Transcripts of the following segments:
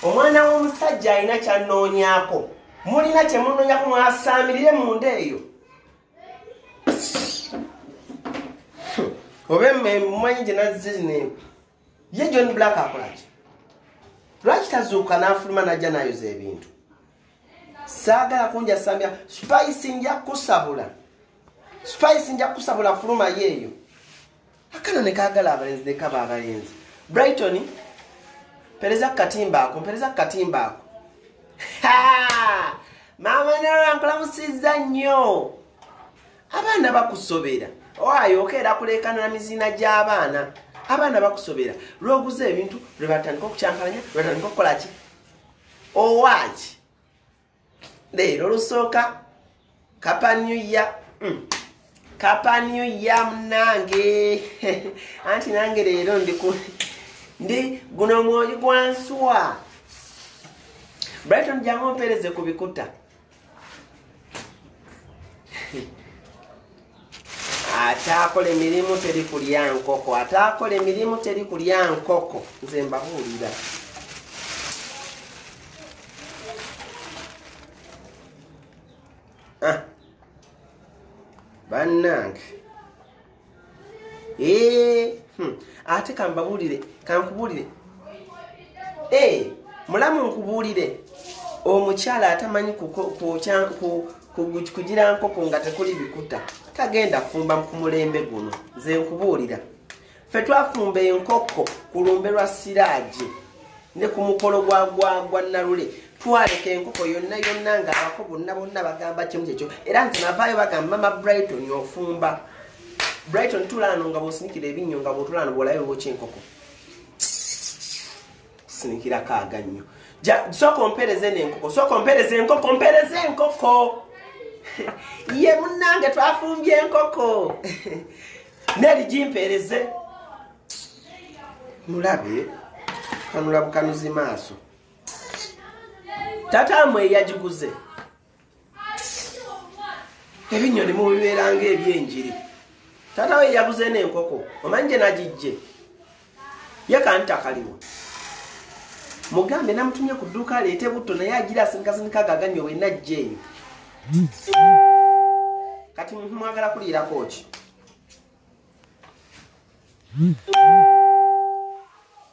omwana w'omusajja alina kyanoonyako mulina kyemunoonyako mwasaamirire munda eyo oba emanyi gye nazze zineeku ye john black akolaki lwaki tazuuka n'afuluma najja nayoza ebintu saagala kunjasamya spice nja kusabula spice nja kusabula fuluma yeeyo akana nekagala abalenzi nekaba abalenzi brighton pereza kukatimba ako mpereza kukatimba ako maama nara nkulamusiza nnyo abaana bakusobera owayo okeera kulekanira miziina gy'abaana abaana bakusobera lwoguza ebintu lwebatandika okukyankalanya lwebatandika okukolaki owaaki leero lusooka kapa new year mm. kapa new year munange anti nange leero ndiku ndi guno mwoyo gwansuwa brighton jangu mpereze ku bikuta ataakola emirimu teri kulya nkoko ataakola emirimu teri kulya nkoko nze mbabuulira ah. bannange eh, hmm. ate kambabuulire kankubuulire eh, mulamu nkubuulire omukyala atamanyi kugira nkoko nga tekuli bikuta tagenda kufumba ku mulembe guno nze nkubuulira fe twafumba enkoko ku lumbe lwa siraagi ne ku mukolo gwa gwagwa nalule twaleka enkoko yonna yonna nga abako bonna bonna bagamba kimu kyekyo era nze navaayo bagamba mama brighton ofumba brighton tulaano nga bwosinikira ebinnyo nga bwotulaano bwolayo bwokyenkoko sinikira kaaga nnyo sooka ompereza eno enkoko sooka ompereza enkoko mpereza enkoko ye munnange twafumbye enkoko neri gimpereze mulabe kanula bukanuzi maaso tata mwe yagiguze ebinyoni mubibeeranga ebyenjiri taata we yabuze n'enkoko omanyi gye nagijje ye kantakaliwo mugambe namutumye ku dduuka aleete butto naye agira asinikasinikaaga aganyo wenna ajja eyo kati muntu mwagala kuliirako ki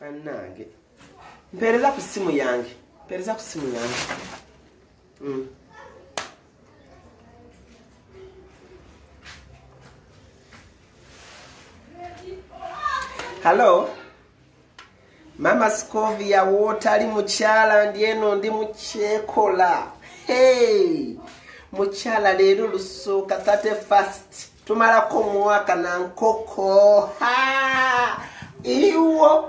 bannange mpeereza ku ssimu yange mpeereza ku ssimu yange Mm. Hello. Mama Scovia wotali mukyala ndi eno ndi mukyekola. Hey. Mukyala leero lusuuka 31st. Tumalako mwaka na nkoko. Ha! Iwo.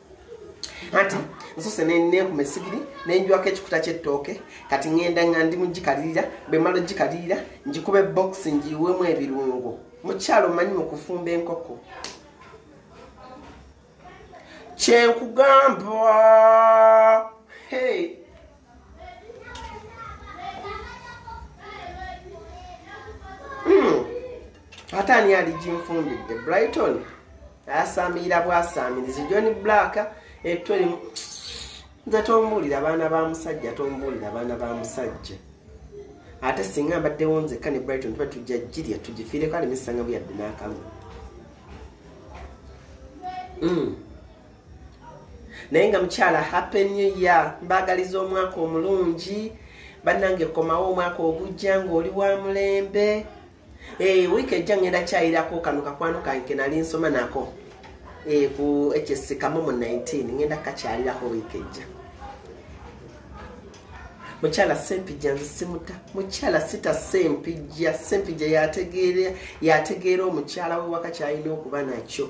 anti nsose nenkume sigiri nenjwako ekikuta kyettooke kati ŋenda nga ndi mugikalirira bwemala ogikalirira ngikuba ebokisi ngiwemu ebirungo mukyalo manyi mukufumba enkoko kyenkugamba hey. Hmm. ate ani ali ginfumbidde brighton ayasaamilira bwasaamirizi john black etto limu nze tombuulira abaana ba musajja tombuulira abaana ba musajja ate singa mbaddewo nzekka ne brighton tuba tujja jirya tugifiireko aleme sanga buyadde n'akamu hmm. naye nga mukyala happy new year mbagaliza omwaka omulungi bannange komawo omwaka ogujja ng'oli wa mulembe eh, wiiki ejja ngenda kyayirako kano kakwano kange kenali nsoma nako eh, ku ekyesikamu mu 19 ngenda kakyalirako wiiki ejja mukyala sempijja nze simuta mukyala sita sempijja sempijja yategeera omukyala we wakakyalina okuba nakyo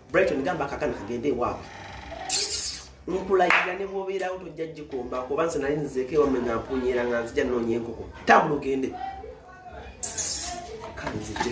Brighton gamba kakana kagende ewaabwe nkulayira ne bwobeerawo tojja gikomba kuba nze nali nzeeko ewamme nga mpunyera nga nzija noonya enkoko tambula ogende kanzije